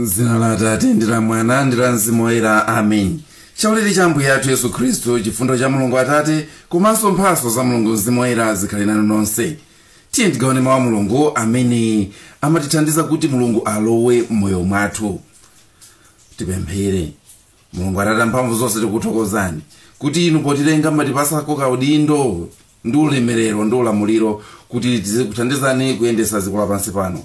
m'dzina la atate ndi la mwana ndi la mzimu woyera amen chaulere cha ambuye athu yesu khristu chifundo cha mulungu atate komanso mphaso za mulungu mzimu woyera zikhale nanu nonse tiye tigawane mawu a mulungu amene amatithandiza kuti mulungu alowe m'moyo mwathu tipemphere mulungu atate amphamvu zonse tikuthokozani kuti inu potilenga munatipasako kaudindo ndi ulemerero ndi ulamuliro kuti tizikuthandizani kuyendesa dziko lapansi pano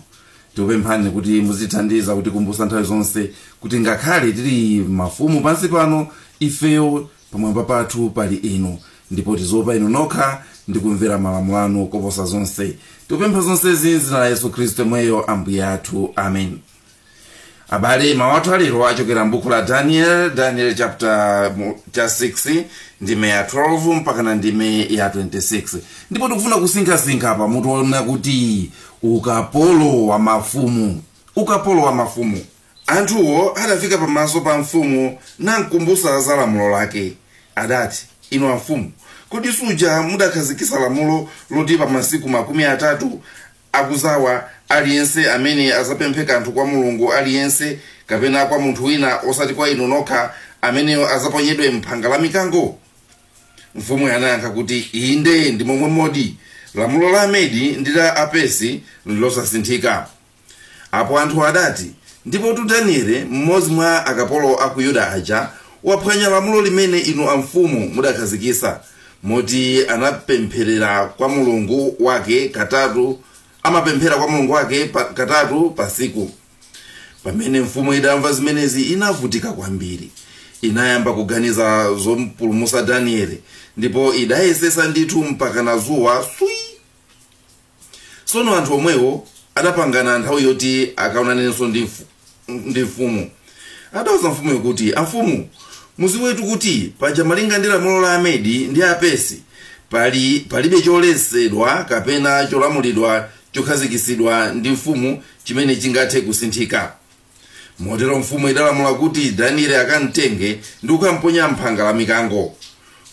tikupemphani kuti muzitithandiza kutikumbutsa nthawi zonse kuti ngakhale tili mafumu pansi pano ifeyo pamwamba pathu pali inu ndipo tiziopa inu nokha ndi kumvera malamulo anu koposa zonse tikupempha zonsezi m'dzina la yesu khristu yemweyo ambuye athu amen abale mawu athu alero achokera m'buku la daniel daniel chapter 6 ndime ya 12 mpakana ndime ya 26 ndipo tikufuna kusinkhasinkha pa mutu wonena kuti ukapolo wa mafumu ukapolo wa mafumu anthuwo adafika pamaso pa mfumu namkumbusa za lamulo lake adati inu amfumu kodi suja mudakhazikisa lamulo loti pa masiku makumi atatu akuzawa, aliyense amene adzapemphe kanthu kwa mulungu aliyense kapena kwa munthu wina osati kwa inu nokha, ameneyo adzaponyedwe m'phanga la mikango? Mfumuyo inayankha kuti, Inde, ndi momwemodi. Lamulo la Amedi ndi la Apersi nlosasinthika. Apo anthuwo adati, Ndipotu Daniele, mmodzi mwa akapolo a ku Yuda aja, waphwanya lamulo limene inu amfumu mudakhazikitsa. moti anapempherera kwa mulungu wake katatu amapemphera kwa mulungu wake katatu pasiku pamene mfumu idamva zimenezi inavutika kwambiri inayamba kuganiza zompulumusa danieli ndipo idayesesa ndithu mpakana zuwa swi tsono anthu omwewo adapangana nthawi yoti akaonanenso ndi mfu- ndi mfumu adauza mfumuyo kuti amfumu muziwetu kuti paja malinga ndi lamulo la amedi ndi apesi palibe choletsedwa kapena cholamulidwa chokhazikitsidwa ndi mfumu chimene chingathe kusinthika motero mfumu idalamula kuti danieli akamtenge ndi kukamponya m'phanga la mikango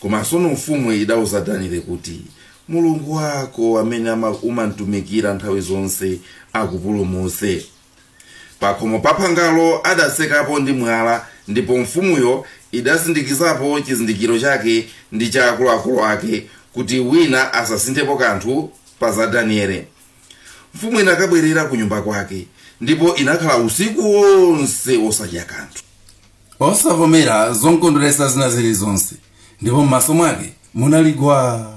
koma tsono mfumu idauza danieli kuti mulungu wako amene ama- umamtumikira nthawi zonse akupulumutse pakhomo pa phangalo adatsekapo ndi mwala ndipo mfumuyo idasindikizapo chizindikiro chake ndi cha akuluakulu ake kuti wina asasinthepo kanthu pa za danieli mfumu inakabwerera ku nyumba kwake ndipo inakhala usiku wonse osadya kanthu osavomera zomkondweretsa zina zilizonse ndipo m'maso mwake munali gwa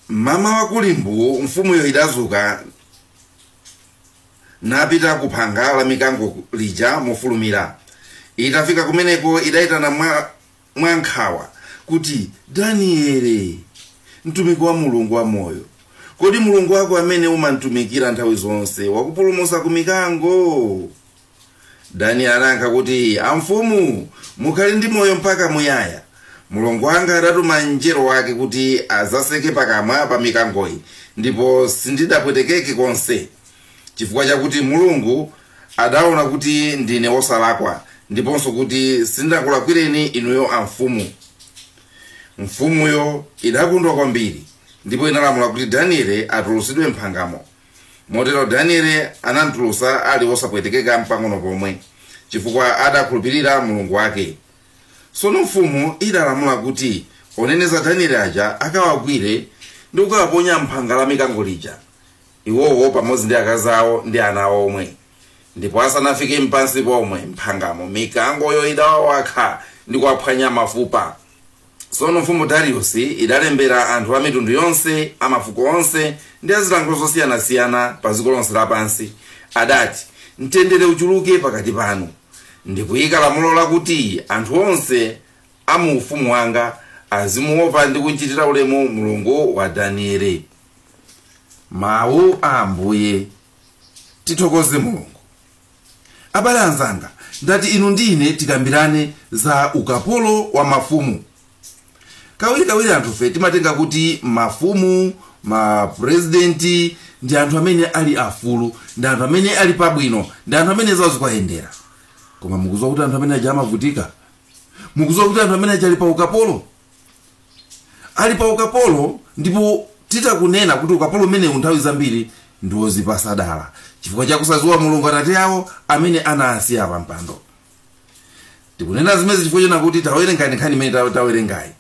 mmamawa kuli mbuu mfumuyo idazuka napita ku phanga la mikango lija mofulumira itafika kumeneko idayitana mwa mwa nkhawa kuti, Daniele, mtumiki wa Mulungu wamoyo, kodi Mulungu wako amene umamtumikira nthawi zonse wakupulumutsa ku mikango? Daniele adayankha kuti, Amfumu, mukhale ndi moyo mpaka muyaya. Mulungu wanga adatuma mngelo wake kuti adzaseke pakamwa pa mikangoyi, ndipo sindidapwetekeke konse. chifukwa chakuti mulungu adaona kuti ndine wosalakwa ndiponso kuti sindakulakwireni inuyo amfumu mfumuyo idakondwa kwambiri ndipo inalamula kuti daniele atulutsidwe mphangamo motero daniele anamtulutsa ali wosapwetekeka mpang'ono pomwe chifukwa adakhulupirira mulungu wake tsono mfumu idalamula kuti oneneza daniele aja akawagwire ndi kukawaponya mphanga la mikango lija iwowo pamodzi ndi akazi awo ndi ana awo omwe ndipo asanafike mpansi pomwe mphangamo mikangoyo idawawakha ndi kuwaphwanya mafupa tsono mfumu dariusi idalembera anthu a mitundu yonse a mafuko onse ndi a zilankhulo zosiyanasiyana pa dziko lonse lapansi adati mtendere uchuluke pakati panu ndikuyika lamulo lakuti anthu onse a mu ufumu wanga azimuopa ndi kumchitira ulemu mulungu wa daniele mawu a ambuye tithokoze mulungu abale anzanga ndati inu ndi ine tikambirane za ukapolo wa mafumu kawirikawiri anthufe timatenga kuti mafumu mapurezidenti ndi anthu amene ali afulu ndi anthu amene ali pabwino ndi anthu amene zawo zikuwayendera koma mukuziwa kuti anthu amene aja amavutika mukuziwa kuti anthu amene aja ali pa ukapolo ali pa ukapolo ndipo titakunena kuti ukapolo umenewu nthawi zambiri ndi wozipasa dala chifukwa chakusadziwa mulungu atate awo amene anasiya pa mpando tikunena zimenezi chifukwa chonena kuti tawerengani nkhani imene ta- tawerengayi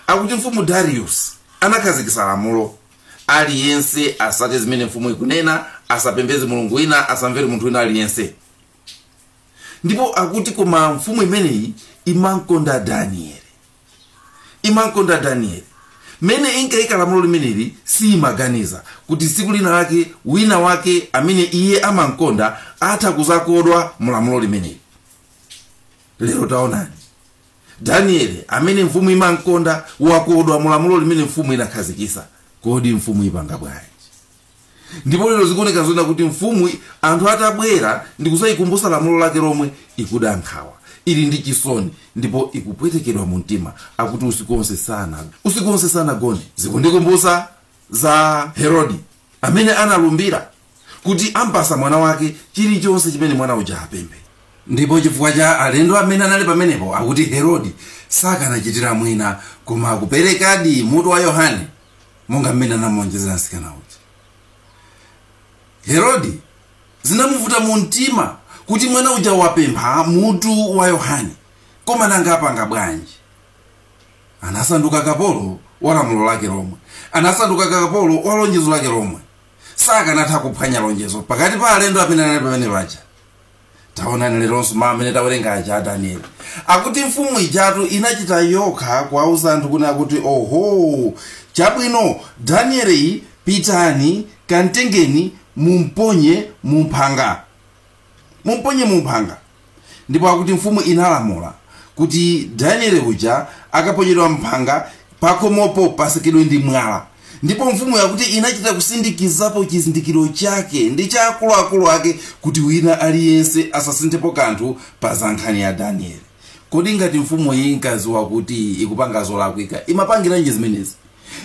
akuti mfumu darius anakhazikitsa lamulo aliyense asate zimene mfumu ikunena asapembeze mulungu wina asamvere munthu wina aliyense ndipo akuti koma mfumu imeneyi imamkonda danieli imamkonda daniele mmene inkaika lamulo limeneli siimaganiza kuti tsiku lina lake wina wake amene iye amamkonda atha kuzakodwa mu lamulo limeneli lero taonani daniele amene mfumu imamkonda wakodwa mu lamulo limene mfumu inakhazikisa kodi mfumu ipanga bwanji ndipo lero zikuoneka zona kuti mfumu anthu atabwera ndi kudzayikumbutsa lamulo lake lomwe ikuda nkhawa ili ndi chisoni ndipo ikupwetekedwa mu mtima akuti usiku wonse sana usiku wonse sanagone zikundikumbutsa za herodi amene analumbira kuti ampatsa mwana wake chilichonse chimene mwana uja apemphe ndipo chifukwa cha alendo amene anali pamenepo akuti herodi sakanachitira mwina koma kuperekadi mutu wa yohane monga mmene anamulonjezera mtsikana uja herodi zinamuvuta mu mtima kuti mwana uja wapempha mutu wa yohane koma nanga apanga bwanji anasanduka kapolo wa lamulo lake lomwe anasanduka kapolo wa lonjezo lake lomwe sakanatha kuphwanya lonjezo pakati pa alendo amene anali pamene paja taonani leronso mawu amene tawerenga aja a danieli akuti mfumu ijatu inachita yokha kuwauza anthu kunena kuti oho chabwino danieli pitani kantengeni mumponye mumphanga mumponye mumphanga ndipo akuti mfumu inalamula kuti danieli uja akaponyedwa mphanga pakomopo pasekedwe ndi mwala ndipo mfumuyo akuti inachita kusindikizapo chizindikiro chake ndi cha akuluakulu ake kuti wina aliyense asasinthepo kanthu pa za nkhani ya danieli kodi ngati mfumu iyi inkadziwa kuti ikupanga zolakwika imapangiranji zimenezi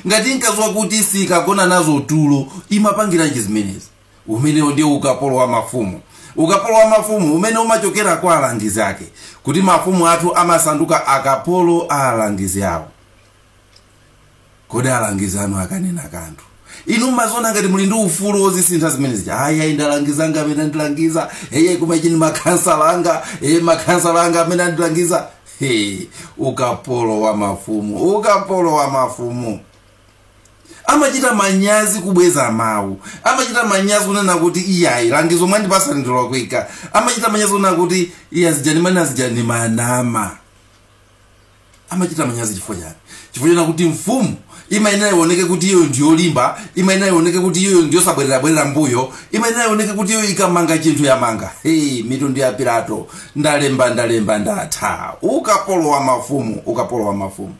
ngati inkadziwa kuti sikagona nazo tulo imapangiranji zimenezi umenewo ndiye ukapolo wa mafumu ukapolo wa mafumu umene umachokera kwa alangizi ake kuti mafumu athu amasanduka akapolo a alangizi awo kodi alangizi anu akanena kanthu inu mmaziona ngati muli ndi ufulu wozisintha zimenezi ayi ayi ndi alangizi anga amene andilangiza eye koma ichi ndi makhansala anga eye makhansala anga amene andilangiza hey, ukapolo wa mafumu ukapolo wa mafumu amachita manyazi kubweza mawu amachita manyazi kunena kuti iyayi langizo mwandipatsa ndilolakwika amachita manyazi kunena kuti iya azijani mwana azijani mwanama amachita manyazi chifukwa chani chifukwa chonena kuti mfumu imayenera ioneke kuti iyo ndiyolimba imayenera ioneke kuti iyo ndiyosabwererabwerera mbuyo imayenera ioneke kuti iyo ikamanga chinthu yamanga hey, mitundu ya pilato ndalemba ndalemba ndatha ukapolo wa mafumu ukapolo wa mafumu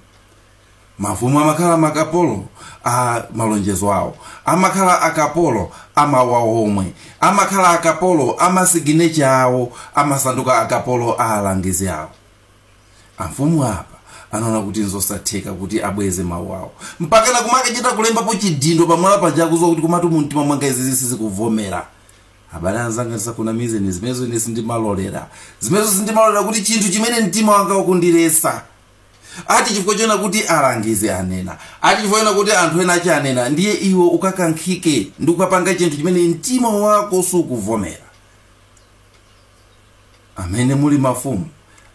mafumu amakhala akapolo a malonjezo awo amakhala akapolo a mawu awo omwe amakhala akapolo a masiginecha awo amasanduka akapolo a alangizi awo amfumu apa anaona kuti nzosatheka kuti abweze mawu awo mpakana kumakachita kulembapo chidindo pamwala paja akuziwa kuti komatu mumtima mwanga izizi sizikuvomera abale anzanga ndisakunamizeni zimenezo ine sindimalolera zimenezo sindimalolera kuti chinthu chimene mtima wanga ukundilesa ati chifukwa chona kuti alangizi anena ati chifukwa chona kuti anthu ena aja anena ndiye iwe ukakankhike ndi kukapanga chinthu chimene mtima wako sukuvomera amene muli mafumu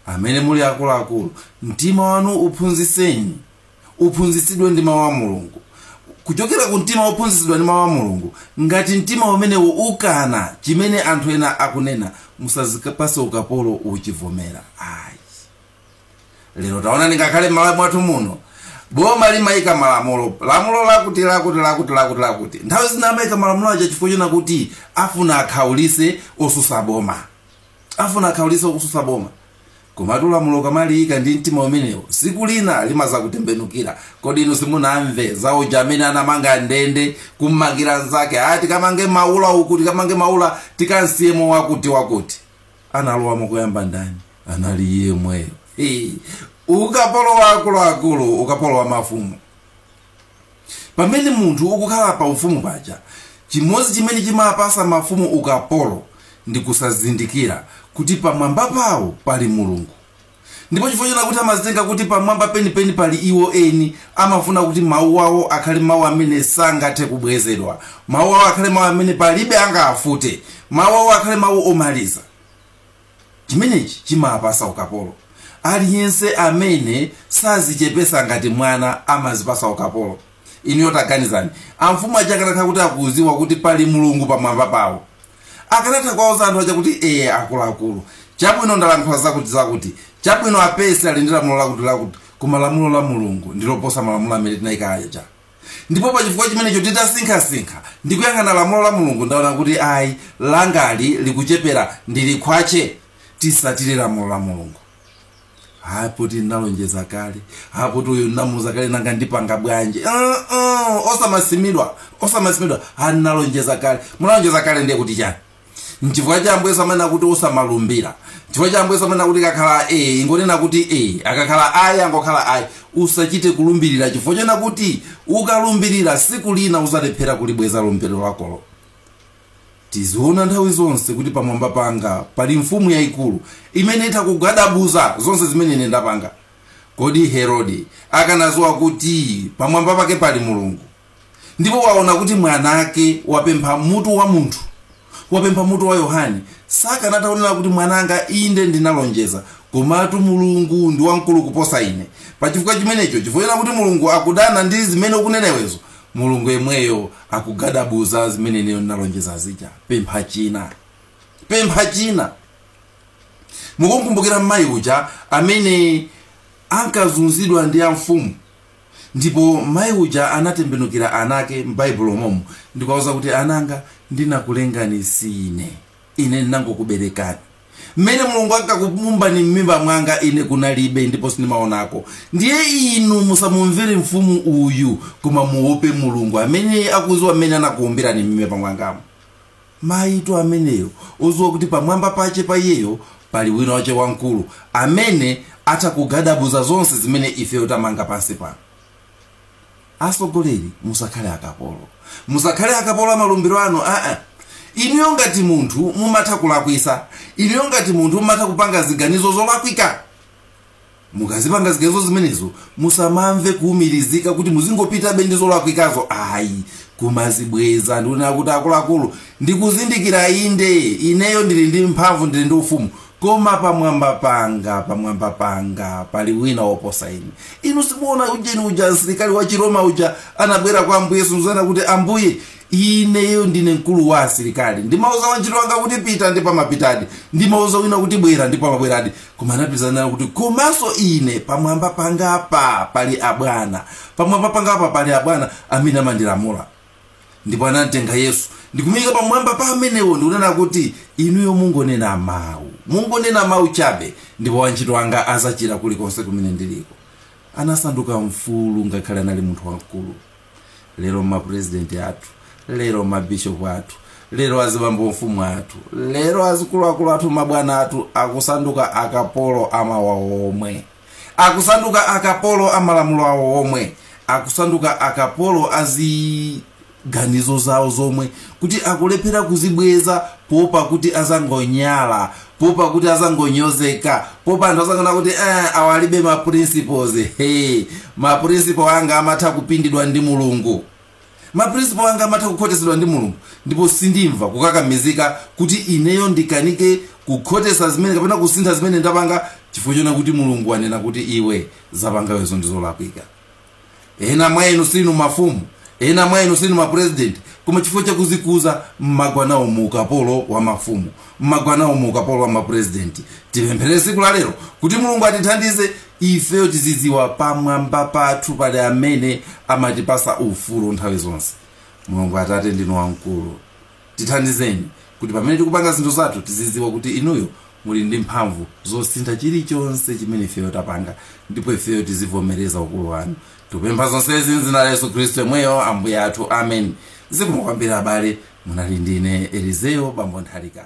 amene muli akuluakulu mtima wanu uphunzitseni uphunzitsidwe ndi mawu a mulungu kuchokera ku mtima wophunzitsidwa ndi mawu a mulungu ngati mtima umenewo ukana chimene anthu ena akunena musazikapase ukapolo uchivomera ayi lero taonani ngakhale m'malawi mwathu muno boma limayika malamulo lamulo lakuti lakuti lakuti lakuti lakuti nthawi zina amayika malamulo aja chifukwa chona kuti afuna akhaulise osusa boma afuna akhaulise osusa boma komatu lamulo kamaliyika ndi mtima umenewo siku lina limazakutembenukira kodi inu simunamve za uja amene anamanga ndende kummangira nzake ati kamange maula uko tikamange maula tikansiyemo wakuti wakuti analowamo koyamba ndani anali yemweyo Hii. ukapolo wa akuluakulu ukapolo wa mafumu pamene munthu ukukhala pa ufumu paja chimodzi chimene chimapasa mafumu ukapolo ndi kusazindikira kuti pamwamba pawo pali mulungu Ndipo chifukwa chakuti amazitenga kuti pamwamba penipeni pali iwo eni, amafuna kuti mawu awo akhale mawu amene sangathe kubwezedwa. Mawu awo akhale mawu amene palibe angafute. Mawu awo akhale mawu omaliza. Chimenechi chimapasa ukapolo. Aliyense amene sazichepesa ngati mwana amazipasa ukapolo. Inuyo taganizani, amfumu aja akanakhala kuti akuziwa kuti pali Mulungu pamwamba pawo, akanatha kuwauza anthu aja kuti ee akuluakulu chabwino ndalankhula zakuti zakuti chabwino a Pesi ali ndi lamulo lakuti lakuti koma lamulo la mulungu ndiloposa malamulo amene tinayika aja ndipo pa chifukwa chimenecho titasinkhasinkha ndi kuyang'ana lamulo la mulungu ndaona kuti ayi langali likuchepera ndi likhwache tisatire lamulo la mulungu hayi poti ndinalonjeza kale hayi poti uyu ndinamuuza kale nanga ndipanga bwanji uh, uh, osamasimidwa osamasimidwa ha ndinalonjeza kale munalonjeza kale ndiye kuti chani nchifukwa chake ambuye Yesu amanena kuti usamalumbira nchifukwa chake ambuye Yesu amanena kuti akakhala e ingonena kuti e akakhala ayi angokhala ayi usachite kulumbirira chifukwa chona kuti ukalumbirira siku lina uzalephera kulibweza lumbiro lakolo Tiziona nthawi zonse kuti pamwamba panga pali Mfumu yaikulu imene itha kugadabuza zonse zimene ine ndapanga. Kodi Herode akanaziwa kuti pamwamba pake pali Mulungu ndipo waona kuti mwanake wapempha mutu wa munthu, wapempha mutu wa Yohane, sakanatha kunena kuti mwananga, inde ndinalonjeza, komatu Mulungu ndi wamkulu kuposa ine. Pachifukwa chimenecho, chifukwa chonena kuti Mulungu akudana ndi zimene ukunena iwezo, Mulungu yemweyo akugadabuza zimene ineyo ndinalonjeza zija pempha china pempha china mukumukumbukira mayi uja amene ankazunzidwa ndi amfumu ndipo mayi uja anatembenukira anake m'baibulo momo ndikuwauza kuti ananga ndinakulengani sine Ine ndinangokuberekani. Mmene Mulungu ankakuwumbani mmimba mwanga, ine kunalibe, ndipo sindimaonako. Ndiye inu musamumvere mfumu uyu, koma muwope Mulungu amene akuziwa mmene anakuwumbirani mmimba mwangamo. Mayitu ameneyo, oziwa kuti pamwamba pache pa iyeyo pali wina wache wamkulu, amene atha kugadabuza zonse zimene ifeyo tamanga pansi pano. Asogoleri musakhale akapolo. Musakhale akapolo amalumbiro anu aa. Inuyo ngati munthu mumatha kulakwisa. Inuyo ngati munthu mumatha kupanga ziganizo zolakwika. Mukazipanga ziganizo zimenezo musamamve kuumirizika kuti muzingopitabe ndi zolakwikazo ayi. Kumazibweza ndikunena kuti akuluakulu ndikuzindikira inde ineyo ndili ndi mphamvu ndili ndi ufumu koma pamwamba panga pamwamba panga pali wina woposa ine inu simuona ujeni uja msilikali wa chiroma uja anabwera kwa ambuye yesu nzanena kuti ambuye ineyo ndine mkulu wa asilikali ndimauza wantchito wanga kuti pita ndipo amapitadi ndimauza wina kuti bwera ndipo amabweradi koma anapitiza kunena kuti komanso ine pamwamba pangapa pali abwana pamwamba pangapa pali abwana amene amandilamula ndipo anamtenga yesu ndikumuyika pamwamba pa amenewo ndikunena kuti inuyo mungonena mawu mungonena mawu chabe ndipo wantchito anga azachira kulikonse kumene ndiliko anasanduka mfulu ngakhale anali munthu wamkulu lero mapurezidenti athu lero mabishopu athu lero azibambo mfumu athu lero azikuluakulu athu mabwana athu akusanduka akapolo amawu awo omwe akusanduka akapolo a malamulo awo omwe akusanduka akapolo a ziganizo zawo zomwe kuti akulephera kuzibweza popa kuti azangonyala popa kuti azangonyozeka popa anthu azangonena kuti eh, awa alibe maprinciples hey, maprinciple anga amatha kupindidwa ndi mulungu Maprinciple anga amatha kukhotetsedwa ndi Mulungu, ndipo sindimva kukakamizika kuti ineyo ndikanike kukhotetsa zimene kapena kusintha zimene ndapanga chifukwa choona kuti Mulungu wanena kuti iwe wapangawe izo ndizolakwika. Ena mwa inu simuli mafumu, ena mwa inu simuli mapresident, koma chifukwa chakuzikuza mmagwa nawo mu ukapolo wa mafumu. mmagwa nawo mu ukapolo wa mapurezidenti tipempherere tsiku la lero kuti mulungu atithandize ifeyo tizidziwa pamwamba pathu pali amene amatipatsa ufulu nthawi zonse mulungu atate ndinu wamkulu tithandizeni kuti pamene tikupanga zinthu zathu tizidziwa kuti inuyo muli ndi mphamvu zosintha chilichonse chimene ifeyo tapanga ndipo ifeyo tizivomereza ukulu wanu tupempha zonsezi mdzina la yesu khristu yemweyo ambuye athu amen zikomo kwambiri abale munali ndine elizeyo bambo nthalika